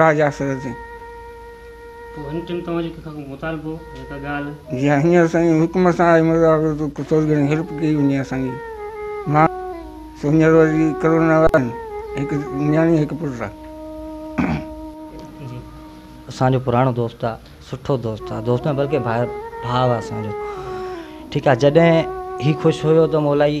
راجا سرجي. پوء هن چيم توهان جو ڪنهن کان ڪو مطالبو يا ڪا ڳالهه. جيئن هينئر سائين حڪم سان آئي مرزا آگر تون ڪو ٿوري گهڻي هيلپ ڪئي وڃي اسان جي. مان سو هينئر وري ڪرونا وارن هڪ نياڻي هڪ پٽ آ. جي اسان جو پراڻو دوست آ سٺو دوست آ دوست نه بلڪه ڀاء آ اسان جو ٺيڪ آ جڏهن هي خوش هيو ته مولائي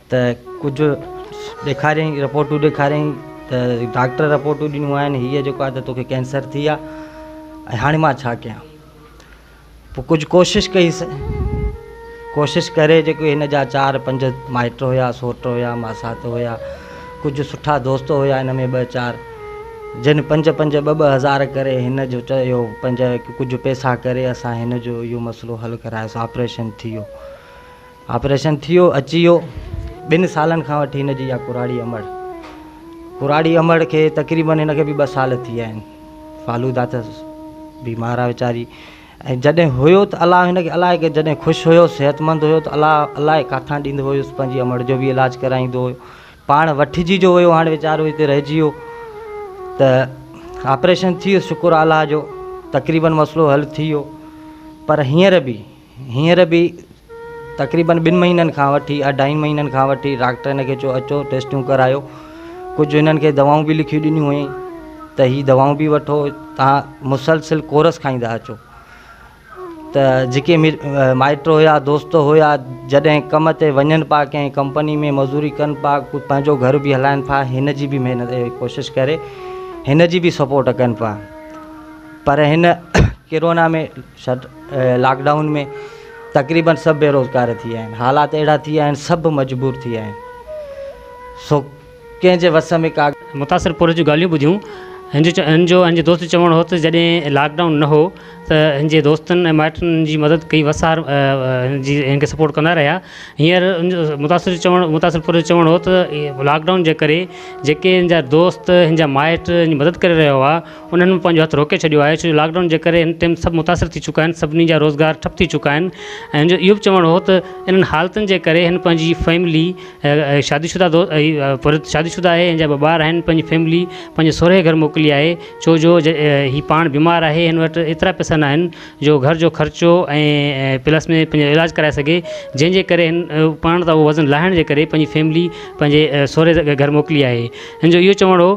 ته ڪجهه ڏيکاريائين رپورٽون ڏيکاريائين ته ڊاڪٽر رپورٽون ڏنيون آهن هيء جيڪو آهي ته توکي ڪينسر ٿي آ ۽ هاڻي مان ڇا ڪيان پوء ڪجهه ڪوشش ڪئيس ڪوشش ڪري جيڪو هن جا چار پنج مائٽ هيا سوٽ هيا ماسات هيا ڪجهه سٺا دوست هيا ان ۾ ٻ چار جن پنج پنج ٻ ٻ هزار ڪري هن جو چيو پنج ڪجهه پيسا ڪري اسان هن جو اهو مسئلو حل ڪرايوسي آپريشن ٿي ويو آپريشن ٿيو اچي ويو ٻن سالن کان وٺي هن جي اها ڪراڙي امڙ ڪراڙي امڙ کي تقريبن هن کي به ٻه سال ٿي ويا آهن فالودا ته بيمار آ ويچاري ۽ جڏهن هيو ته الله هن کي الائي کي جڏهن خوش هيو صحتمند هيو ته الله الائي ڪاٿان ڏيندو هيس پنهنجي امڙ جو به علاج ڪرائيندو هيو پاڻ وٺجي جو ويو هاڻي ويچارو هتي رهجي ويو ته آپريشن ٿي ويو شڪر الله جو تقريبن مسئلو حل ٿي ويو پر هينئر به هينئر به تقريبن ٻن مهينن کان وٺي اڍائين مهينن کان وٺي ڊاڪٽر هن کي چيو اچو ٽيسٽون ڪرايو ڪجهه هنن کي دوائون به لکي ڏنيون هيائين ته هي دوائون به وٺو تان مسلسل ڪورس کائيندا اچو ته جيڪي مائٽ هيا دوست هيا جڏهن ڪم تي وڃن پا ڪنهن ڪمپني ۾ مزوري ڪن پا پنهنجو گهر به هلائن پا هن جي به محنت ڪوشش ڪري هن جي به سپورٽ ڪن پا پر هن ڪرونا ۾ شٽ لاڪ ڊائون ۾ تقريبن سڀ بيروزگار ٿي ويا آهن حالات اهڙا ٿي ويا آهن سڀ مجبور ٿي ويا آهن سو ڪنهن جي وس ۾ ڪا متاثر پورهيت جون ڳالهيون ٻڌيون هن جو هن جو هن جي دوست جو چوڻ هو ته جڏهن لاڪ ڊائون نه هو ته هن جي دوستن ۽ مائٽن هن جي مدد ڪئي وسار هن جي هن کي سپورٽ ڪندا رهيا هينئر متاثر جو چوڻ متاثر پورهيت جو چوڻ هو ته لاڪ ڊائون جي ڪري جيڪي هن جا دوست هن جا مائٽ هن جي مدد ڪري رهيا هئا انهن مان پنهنجو هٿ روڪي ڇڏيو آهي ڇو جو لاڪ ڊائون جي ڪري هن ٽيم سڀ متاثر ٿي چڪا آهن سڀني جا روزگار ٺپ ٿي چڪا آهن ۽ هن جو اهو به چوڻ هو ته انهن حالتن جي ڪري هن پنهنجي فيملي شادي شده دو شادي شده آهي هن جا ٻه ٻار آهن پنهنجي فيملي پنهنجي سورهيه گهر موڪلي آهي ڇو جو هي پاڻ بيمار آهي هن وٽ ايترا پئسا نه آهن جو گهر جو خرچو ۽ پلس ۾ پنهنجو علاج ڪرائي سگهي جنهن جي ڪري هن پاڻ تان اهو وزن لاهڻ جي ڪري پنهنجي فيملي پنهنجي سورهيه گهر موڪلي آهي هن جو اهو چوڻ هو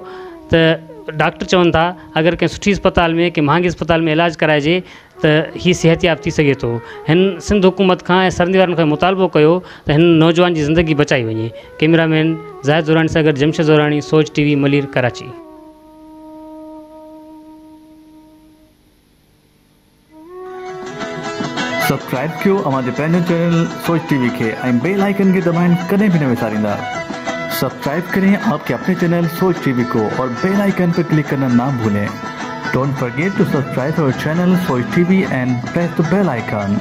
ته ڊاڪٽر چون ٿا اگر ڪنهن سٺي اسپتال ۾ ڪنهن مهانگي اسپتال ۾ علاج ڪرائجي ته هي صحتياب ٿي سگهي ٿو هن سنڌ حڪومت کان ۽ سرندي وارن کان مطالبو ڪيو ته هن نوجوان جي زندگي بچائي وڃي ڪئميرا مين زاهد زوراڻي سان گڏ Jamshed Zorani Soch T V Malir Karachi. Subscribe ڪيو اوهان جي پنهنجو چينل سوچ ٽي وي کي ۽ بيل آئيڪن کي دٻائڻ ڪڏهن به نه وساريندا سبسڪرائب ڪرين آپ ڪي اپني چينل سوچ ٽي وي ڪو اور بيل آئيڪن پي ڪلڪ ڪرنا نا ڀولين ڊونٽ فرگيٽ ٽو سبسڪرائب اور channel Soch T V and press the bell icon.